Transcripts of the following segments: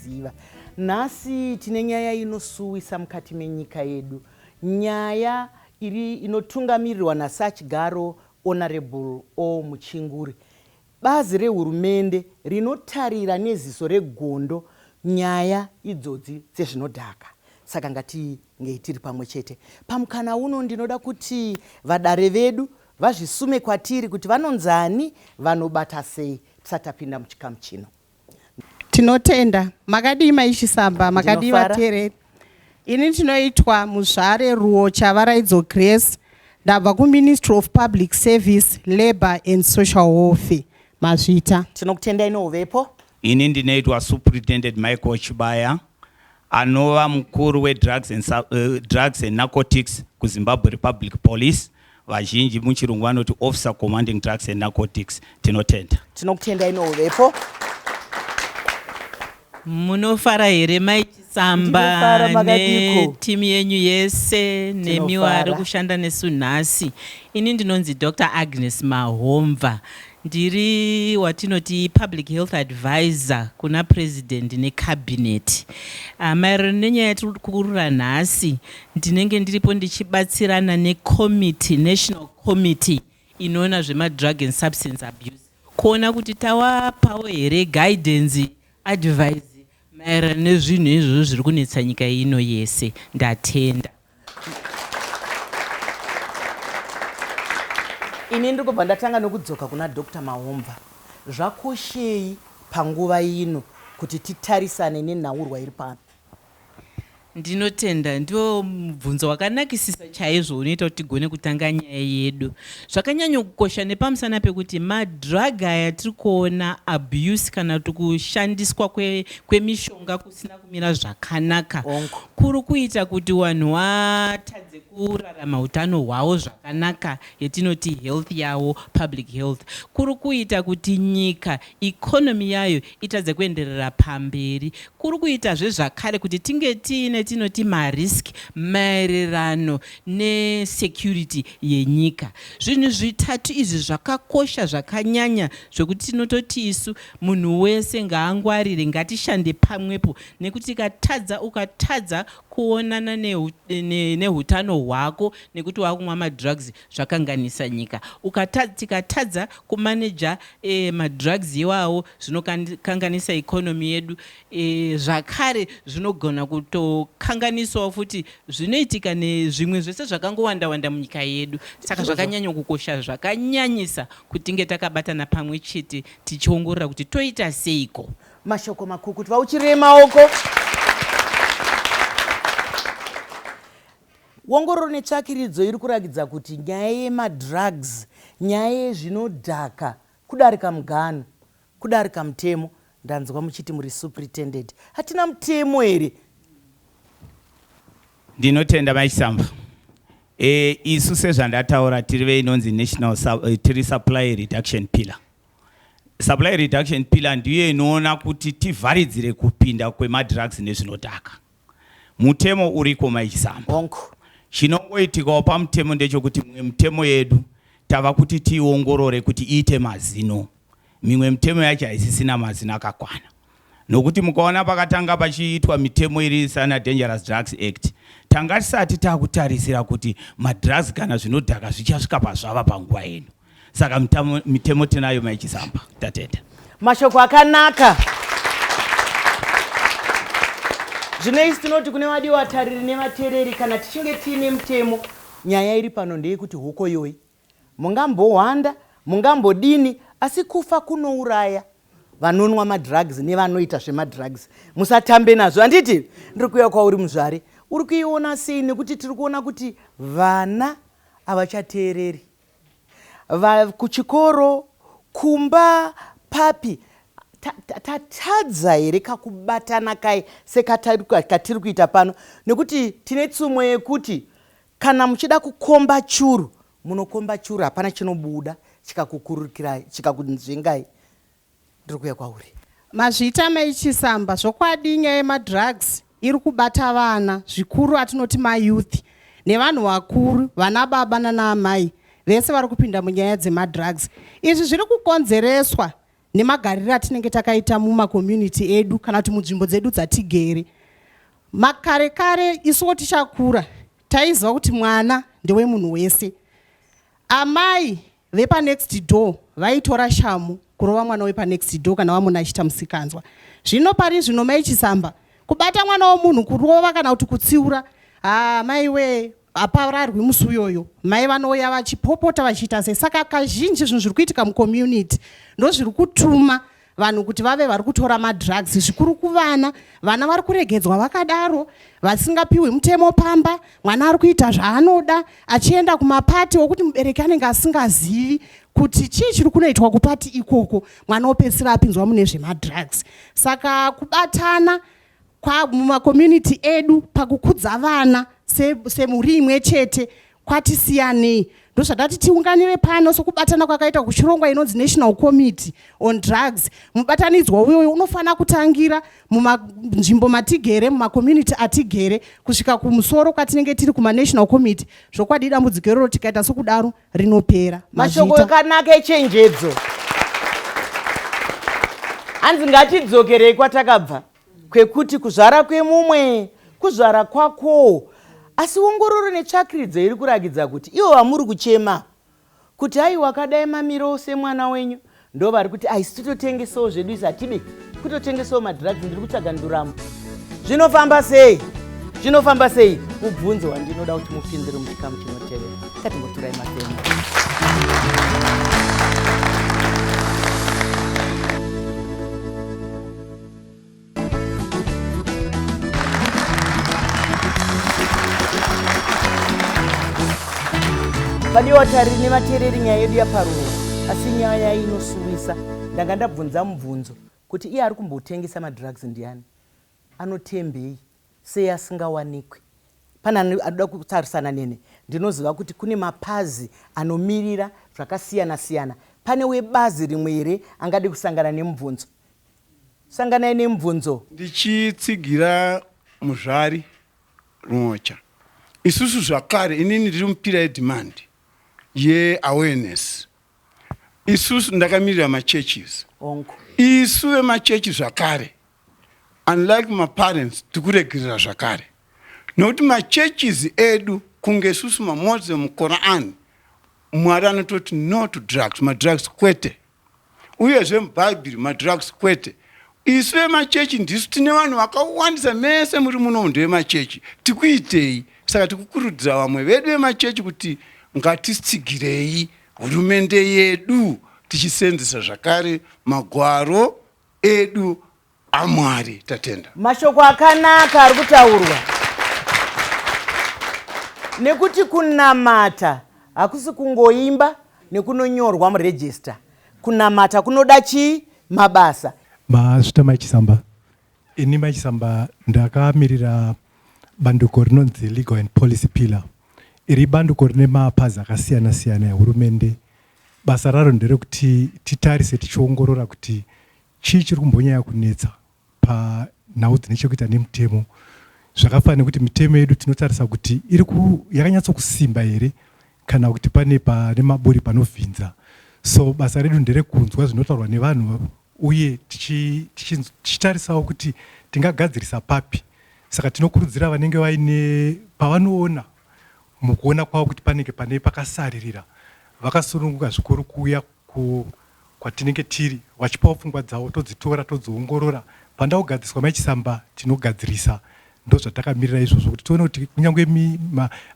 Ziva. Nhasi tine nyaya inosuwisa mukati menyika yedu. Nyaya iri inotungamirirwa nasachigaro Honourable O Muchinguri. Bazi rehurumende rinotarira neziso regondo nyaya idzodzi dzezvinodhaka. Saka ngatingei tiri pamwe chete. Pamukana uno ndinoda kuti vadare vedu vazvisume kwatiri kuti vanonzani, vanobata sei tisati tapinda muchikamu chino. Tinotenda. Makadii mai Chisamba? Makadii Ndinofara. vateereri? Ini ndinoitwa Muzvare Ruo Chavaraidzo Grace. Ndabva kuMinistry of Public Service, Labour and Social Welfare. Mazvita. Tinokutendai nouvepo. Ini ndinoitwa Superintendent Michael Chibaya. Anova mukuru weDrugs and, Sub- eh, Drugs and Narcotics kuZimbabwe Republic Police, vazhinji muchirungu vanoti Officer Commanding Drugs and Narcotics. Tinotenda. tinokutenda ino uvepo munofara here mai chisamba Ndinofara, makadiko? netimu yenyu yese nemiwo Tinofara. ari kushanda nesu nhasi ini ndinonzi dr agnes mahomva Ndiri watinoti public health advisor kuna President neCabinet. Ah, maererano nenyaya yatiri kukurura nhasi, ndinenge ndiripo ndichibatsirana necommittee, national committee inoona zvemadrug and substance abuse kuona kuti tawapawo here guidance advise maererano nezvinhu izvozvo zviri kunetsa nyika ino yese. Ndatenda. Ini ndiri kubva ndatanga nokudzoka kuna Dr Mahomva. Zvakoshei panguva ino kuti titarisane nenhaurwa iri pano? Ndinotenda, ndiwo mubvunzo wakanakisisa chaizvo unoita kuti tigone kutanga nyaya yedu. Zvakanyanyokukosha nepamusana pekuti madrug aya tiri kuona abuse kana kuti kushandiswa kwemishonga kwe risina kumira zvakanaka kuri kuita kuti wanhu watadze kurarama hutano hwawo zvakanaka yetinoti health yawo public health kuri kuita kuti nyika economy yayo itadze kuenderera pamberi kuri kuitazve zvakare kuti tinge tiine tinoti marisk maererano nesecurity yenyika zvinhu zvitatu izvi zvakakosha zvakanyanya zvekuti tinototi isu Munhu wese ngaangwarire ngatishande pamwepo nekuti tikatadza ukatadza kuonana nehutano hwako nekuti wakumwa madrugs zvakanganisa nyika ukatadza tikatadza kumanager eh, madrugs iwawo zvinokanganisa economy yedu eh, zvakare zvinogona kutokanganisawo futi zvinoitika nezvimwe zvese zvakangowanda wanda munyika yedu saka zvakanyanya kukosha zvakanyanyisa kutinge takabatana pamwe chete tichiongorora kuti toita seiko mashoko makukutu vauchirei maoko wongororo netsvakiridzo iri kurakidza kuti nyaya yemadrugs nyaya yezvinodhaka kudarika mugano kudarika mutemo ndanzwa muchiti muri supretended hatina mutemo here Ndinotenda mai Chisamba. E, isu sezvandataura tiri veinonzi national uh, tiri supply reduction pillar. Supply reduction pillar ndiyo inoona kuti tivharidzire kupinda kwemadrugs nezvinodhaka. Mutemo uriko mai Chisamba. Chinongoitikawo pamutemo ndechokuti mimwe mitemo yedu tava kuti tiiongorore kuti iite mazino. Mimwe mitemo yacho haisisina mazino akakwana. Nokuti mukaona pakatanga pachiitwa mitemo iri sana Dangerous Drugs Act, tanga tisati takutarisira kuti madrugs kana zvinodhaka zvichasvika pazvava panguva ino. Saka mitamo, mitemo tinayo mai Chisamba. Tatenda. Mashoko akanaka. Zvino isi tinoti kune vadi vatariri nevatereri kana tichinge tiine mutemo nyaya iri pano ndeyekuti hokoyoi. Mungambohwanda, mungambodini asi kufa kunouraya vanonwa madrugs nevanoita zvemadrugs musatambe nazvo handiti? Ndiri kuuya kwauri muzvare, uri kuiona sei nekuti tiri kuona kuti vana havachateereri kuchikoro, kumba, papi tatadza here kakubatana kai sekatiri kuita pano nekuti tine tsumo yekuti Kana muchida kukomba churu munokomba churu hapana chinobuda chikakukurukirai chikakunzvengai ndiri kuya kwauri. Mazviita mai Chisamba zvokwadi nyaya yemadrugs iri kubata vana zvikuru atinoti mayouth nevanhu vakuru vana baba nana amai vese vari kupinda munyaya dzemadrugs. Izvi zviri kukonzereswa nemagariro atinenge takaita mumakomunity edu kana kuti munzvimbo dzedu dzatigere makare kare isuwo tichakura taiziva kuti mwana ndewemunhu wese amai vepanext door vaitora shamu kurova mwana wepanext door kana vamuna achiita musikanzwa zvino pari zvino mai chisamba kubata mwana womunhu kurova kana kuti kutsiura haa ah, maiwee hapararwi musi uyoyo mai vanouya vachipopota vachiita sei saka kazhinji zvinhu zviri kuitika mucommunity ndozviri kutuma vanhu kuti vave vari kutora madrugs zvikuru kuvana vana vari kuregedzwa vakadaro vasingapiwi mutemo pamba mwana ari kuita zvaanoda achienda kumapati okuti mubereki anenge asingazivi kuti chii chiri kunoitwa kupati ikoko mwana opedzisira apinzwa mune zvemadrugs saka kubatana kwamumakomunity edu pakukudza vana semhuri se imwe chete kwatisiyanei ndozvatati tiunganire pano sokubatana kwakaita kuchirongwa inonzi national committee on drugs mubatanidzwa uyoyo unofanira kutangira munzvimbo matigere mumakomunity atigere kusvika kumusoro kwatinenge tiri kumanational committee zvokwadi dambudziko iroro tikaita sokudaro rinopera mashoko akanaka echenjedzo hanzi ngatidzokerei kwatakabva kwekuti kuzvara kwemumwe kuzvara kwakowo asi ongororo netsvakiridzo iri kuragidza kuti ivo vamuri kuchema kuti ayi wakadai mamiro semwana wenyu ndo vari kuti aisi titotengesawo zvedu isi hatidi kutotengesawo madrugs ndiri kutsvaga nduramo zvinofamba sei zvinofamba sei mubvunzo wandinoda kuti mupindire muchikamu chinotevera katimboturai matemo vadiwa vatariri nevateereri nyaya yedu yaparurwa asi nyaya inosuwisa ndanga ndabvunza mubvunzo kuti iye ari kumbotengesa madrugs ndiani anotembei sei asingawanikwi pane anoda kutarisana nene ndinoziva kuti kune mapazi anomirira zvakasiyana siyana pane webazi rimwe here angade kusangana nemubvunzo Sanganai nemubvunzo. Ndichitsigira Muzvari Nhocha, isusu zvakare, inini ndiri mupira yedhimandi yeawareness, isusu ndakamirira machurches, Hongu. isu vemachechi zvakare unlike maparents tiri kuregerera zvakare nokuti machurches edu kunge isusu maMoslim Quran Mwari anototi no to drugs, madrugs kwete. Uyezve muBhaibheri madrugs kwete. Isu vemachechi ndisu tine vanhu vakawandisa mese muri muno ndevemachechi. Tikuitei? Saka tikukurudzira vamwe vedu vemachechi kuti ngatitsigirei hurumende yedu tichisenzesa zvakare magwaro edu amwari tatenda mashoko akanaka ari kutaurwa nekuti kunamata hakusi kungoimba nekunonyorwa muregista kunamata kunoda chii mabasa mazvita maichisamba ini maichisamba ndakamirira bandiko rinonzi legal and policy pillar iri bandiko rine mapazi akasiyana siyana ehurumende basa raro nderekuti titarise tichiongorora kuti Chii chiri kumbonyaya kunetsa panhau dzine chekuita nemutemo? Zvakafanana nekuti mitemo yedu tinotarisa kuti iri yakanyatso kusimba here kana kuti pane pane maburi panovhinza. So basa redu nderekunzwa zvinotaurwa nevanhu uye tichitarisawo kuti tingagadzirisa papi. Saka tinokurudzira vanenge vaine pavanoona mukuona kwavo kuti panenge pane pakasaririra vakasununguka zvikuru kuuya ku kwatinenge tiri wachipawo pfungwa dzawo todzitora todziongorora panda kugadziswa mai chisamba tinogadzirisa ndozvatakamirira izvozvo kuti tione kuti kunyange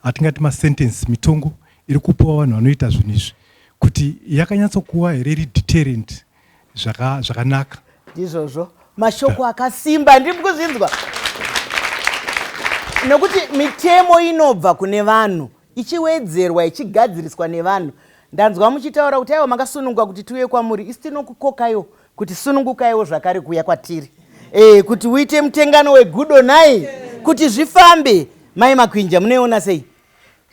atingati masentence mitongo iri kupuwa vanhu vanoita zvinhu izvi kuti yakanyatsokuwa here iri deterrent zvakanaka zvaka ndizvozvo mashoko akasimba ndiri kuzvinzwa nokuti mitemo inobva kune vanhu ichiwedzerwa ichigadziriswa nevanhu ndanzwa muchitaura kuti aiwa makasununguka kuti tiuye kwamuri isi tinokukokayo kuti sunungukaiwo zvakare kuuya kwatiri e, kuti uite mutengano wegudo nhai kuti zvifambe mai makwinja munoiona sei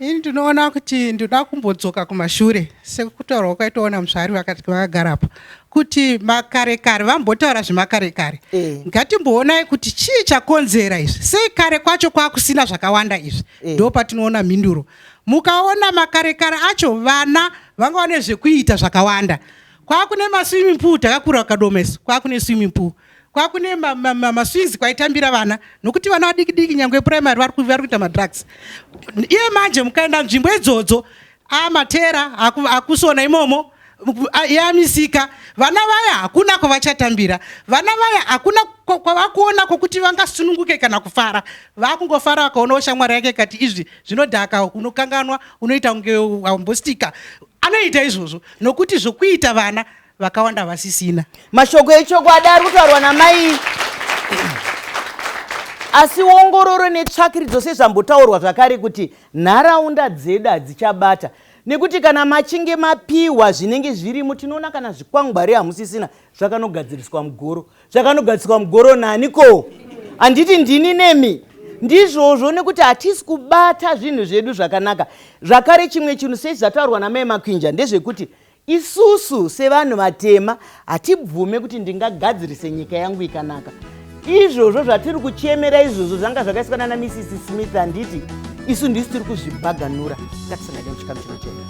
ini ndinoona kuti ndinoda kumbodzoka kumashure sekutaurwa kwaitoona muzvari vakagarapa kuti makare kare vambotaura zvemakare kare eh. ngatimboonai kuti chii chakonzera izvi sei kare kwacho kwakusina zvakawanda izvi eh. ndo patinoona mhinduro mukaona makarekare acho vana vanga vane zvekuita zvakawanda kwakune maswimming pool takakura akadomes kwakune swimming pool kwakune maswizi kwaitambira vana nokuti vana vadikidiki nyangwe primary vari kuita madrugs iye manje mukaenda nzvimbo idzodzo a matera aku, akusona imomo yamisika vana vaya hakuna kwavachatambira vana vaya hakuna kwavakuona kwokuti vangasununguke kana kufara vakungofara vakaonawo shamwari yake kati izvi zvinodhaka unokanganwa unoita kunge wambostika anoita izvozvo nokuti zvokuita vana vakawanda vasisina mashoko echokwadi ari kutaurwa namai asi ongororo netsvakiridzo sezvambotaurwa zvakare kuti nharaunda dzedu hadzichabata nekuti kana machinge mapiwa zvinenge zvirimo tinoona kana zvikwangwari hamusisina zvakanogadziriswa mugoro zvakanogadziriswa mugoro nani ko handiti ndini nemi ndizvozvo nekuti hatisi kubata zvinhu zvedu zvakanaka zvakare chimwe chinhu sezvataurwa namai makwinja ndezvekuti Isusu sevanhu vatema hatibvume kuti ndingagadzirise nyika yangu ikanaka. Izvozvo zvatiri kuchemera izvozvo zvanga zvakaiswa nana Mrs Smith handiti isu ndisu tiri kuzvibhaganura ngatisangane muchikamu chinochena.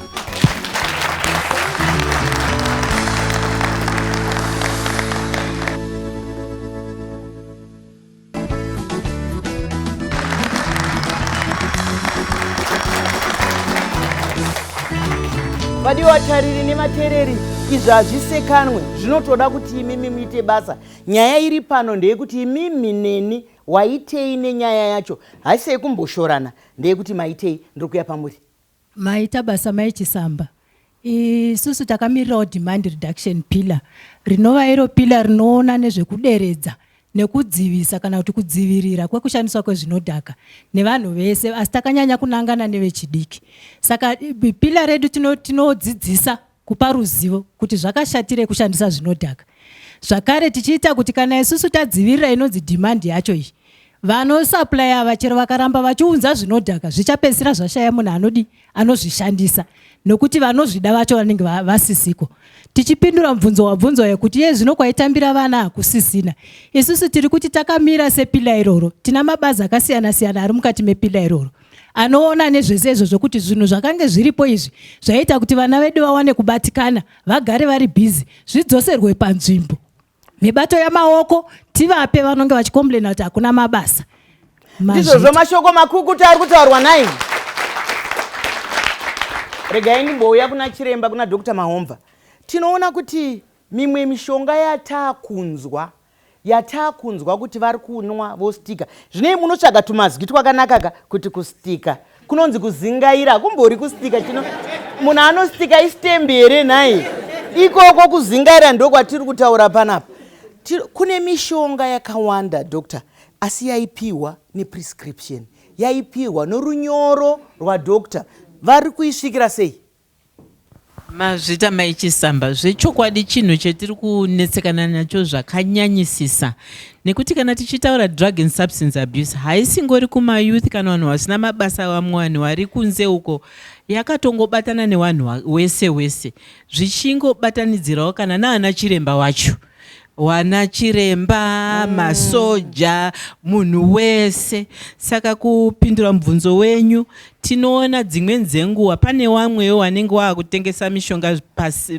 vadiwa vatariri nevatereri izvi hazvisekanwe zvinotoda kuti imimi muite basa nyaya iri pano ndeyekuti imimi neni waitei nenyaya yacho haisi yekumboshorana ndeyekuti maitei ndiri kuya pamuri Maita basa mai Chisamba. Isusu takamirirawo demand reduction pillar rinova iro pillar rinoona nezvekuderedza nekudzivisa kana kuti kudzivirira kwekushandiswa kwezvinodhaka nevanhu vese asi takanyanya kunangana nevechidiki saka pillar redu tinodzidzisa tino kupa ruzivo kuti zvakashatirei kushandisa zvinodhaka zvakare tichiita kuti kana isusu tadzivirira inonzi demand yacho iyi vanosupply ava chero vakaramba vachiunza zvinodhaka zvichapedzisira zvashaya munhu anodi anozvishandisa nokuti vanozvida vacho vanenge vasisiko tichipindura mubvunzo wabvunzwa yekuti ye zvino kwaitambira vana hakusisina isusu tiri kuti takamira sepila iroro tina mabazi akasiyana-siyana ari mukati mepila iroro anoona nezvese izvozvo kuti zvinhu zvakange zviripo izvi zvaiita kuti vana vedu vawane kubatikana vagare vari bhizi zvidzoserwe panzvimbo nebato yamaoko tivape vanonge vachikomplaina kuti hakuna mabasa ndizvozvo mashoko makukuta ari kutaurwa nai regai ndimbouya kuna chiremba kuna dr mahomva tinoona kuti mimwe mishonga yataakunzwa yatakunzwa kuti vari kunwa vostika zvinei munotsvaga tumazwi twakanakaka kuti kustika kunonzi kuzingaira hakumbori kustika chino munhu anostika istembi here nhai ikoko kuzingaira ndokwatiri kutaura panapa kune mishonga yakawanda doctor asi yaipiwa neprescription yaipiwa norunyoro rwadoctor vari kuisvikira sei Mazvita mai Chisamba, zvechokwadi chinhu chetiri kunetsekana nacho zvakanyanyisisa nekuti kana tichitaura drug and substance abuse haisingori kumayouth kana vanhu vasina mabasa vamwe vanhu vari kunze uko yakatongobatana nevanhu wese wese zvichingobatanidzirawo kana naana chiremba wacho. wana chiremba mm. masoja munhu wese saka kupindura mubvunzo wenyu tinoona dzimweni dzenguva pane wamwewo wanenge waakutengesa mishonga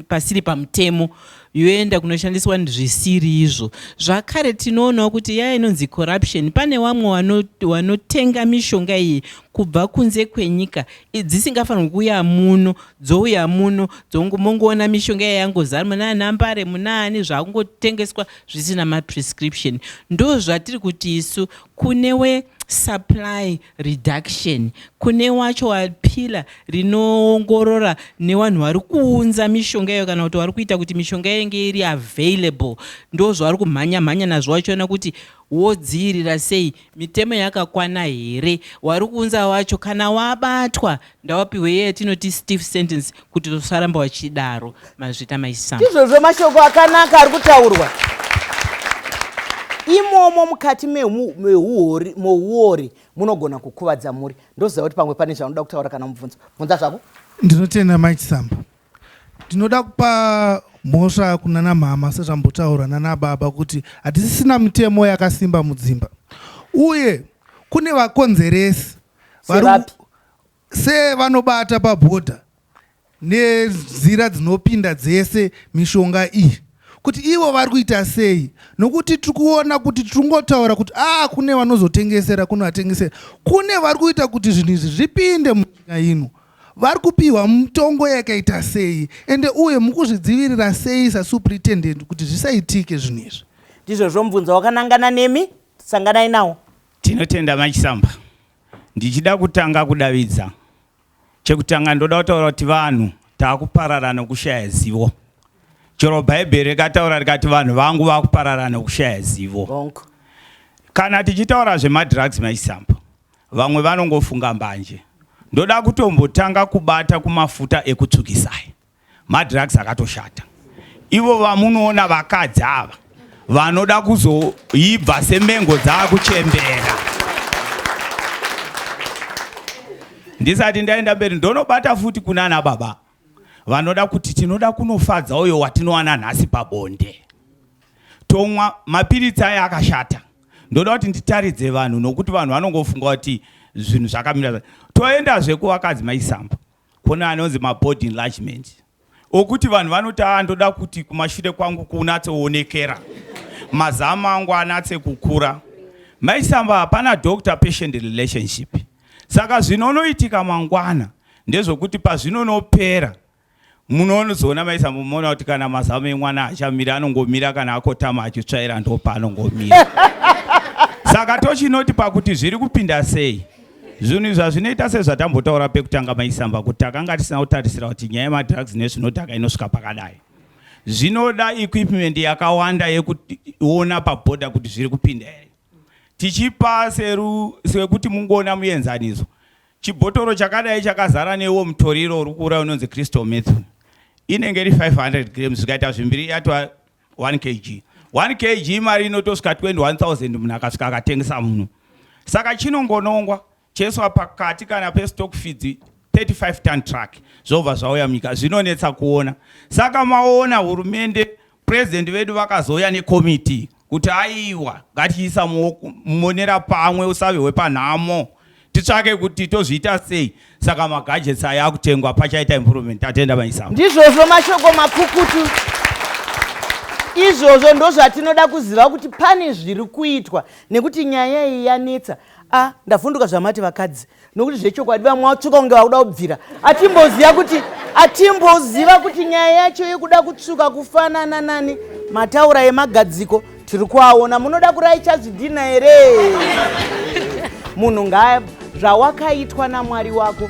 pasiri pamutemo yoenda kunoshandiswa zvisiri izvo zvakare tinoonawo kuti yaya inonzi corruption pane wamwe wanotenga mishonga iyi kubva kunze kwenyika dzisingafanirwi kuuya muno dzouya muno dzongomongoona mishonga iya yangozara muna nambare munaani zvakungotengeswa zvisina maprescription ndo zvatiri kuti isu kune we supply reduction kune wacho wapila rinoongorora nevanhu vari kuunza mishonga iyo kana kuti vari kuita kuti mishonga yenge iri available ndo zvavari kumhanya mhanya nazvo vachiona kuti wodziirira sei Mitemo yakakwana here wari kuunza wacho kana wabatwa ndawapihwe iye yatinoti stiff sentence kuti usaramba wachidaro mazvita maisam. Izvozvo mashoko akanaka ari kutaurwa imomo mukati meuori munogona kukuvadza mhuri ndoziva kuti pamwe pane zvaunoda kutaura kana mubvunzo bvunza zvako ndinotenda mike samba Ndinoda kupa mhosva kunana mhama sezvambotaura nana baba kuti hatisisina mitemo yakasimba mudzimba uye kune vakonzeresi sevanobata pabhodha nenzira dzinopinda dzese mishonga iyi kuti ivo vari kuita sei nokuti tiri kuona kuti tiri kungotaura kuti a ah, kune vanozotengesera kunovatengesera kune vari kuita kuti zvinhu izvi zvipinde munyika ino vari kupihwa mutongo yakaita sei ende uye mukuzvidzivirira sei sasupritendent kuti zvisaitike zvinhu izvi ndizvozvo mubvunzo wakanangana nemi sanganai nawo tinotenda machisamba ndichida kutanga kudavidza chekutanga ndoda kutaura kuti vanhu taakuparara nokushaya zivo chero bhaibheri rikataura rikati vanhu vangu vakuparara nokushaya zivo kana tichitaura zvemadrugs machisamba Vamwe vanongofunga mbanje. Ndoda kutombotanga kubata kumafuta ekutsvukisa aya. Madrugs akatoshata. Ivo vamunoona vakadzi ava vanoda kuzoibva semengo dzaakuchembera. Ndisati ndaenda mberi ndonobata futi kunana baba. vanoda kuti tinoda kunofadza uyo watinowana nhasi pabonde tomwa mapiritsi aya akashata ndoda kuti nditaridze vanhu nokuti vanhu vanongofunga kuti zvinhu zvakamira toendazve kuvakadzi maisamba kune anonzi mabody enlargement okuti vanhu vanoti a ah, ndoda kuti kumashure kwangu kunatsoonekera mazama angu anatse kukura maisamba hapana doctor patient relationship Saka zvinonoitika mangwana ndezvokuti pazvinonopera munozoona maisa mumoona kuti kana mazamu emwana achamira anongomira kana akotama achitsvaira ndopaanongomira saka tochinoti pakuti zviri kupinda sei zvinhu izvi hazvinoita sezvatambotaura pekutanga maisamba kuti takanga tisina kutarisira kuti nyaya yemadrugs nezvinodhaka inosvika pakadai zvinoda equipment yakawanda yekuona pabhodha kuti zviri kupinda here tichipa seru sekuti mungoona muenzaniso chibhotoro chakadai chakazara newo mutoriro uri kuura unonzi crystal methu inenge iri 500 grams zvikaita zvimbiri yatwa 1 kg 1 kg mari inotosvika 21000 munhu akasvika akatengesa muno saka chinongonongwa Cheswa pakati kana pestock feeds 35 ton truck zvobva zvauya munyika zvinonetsa kuona saka maona hurumende president vedu vakazouya nekomiti kuti aiwa ngatiisa mumonera pamwe usave hwepanhamo titsvake kuti tozviita sei saka magajets aya akutengwa pachaita improvement tatenda maisa ndizvozvo mashoko makukutu izvozvo ndozvatinoda kuziva kuti pane zviri kuitwa nekuti nyaya iyi yanetsa a ah, ndavhunduka zvamati vakadzi nokuti zvechokwadi vamwe vatsvuka kunge vakuda kubvira atimboziva kuti atimboziva kuti nyaya yacho yekuda kutsvuka kufanana nani mataura emagadziko tiri kuaona munoda kuraicha zvidhina here munhu ngaa zvawakaitwa namwari wako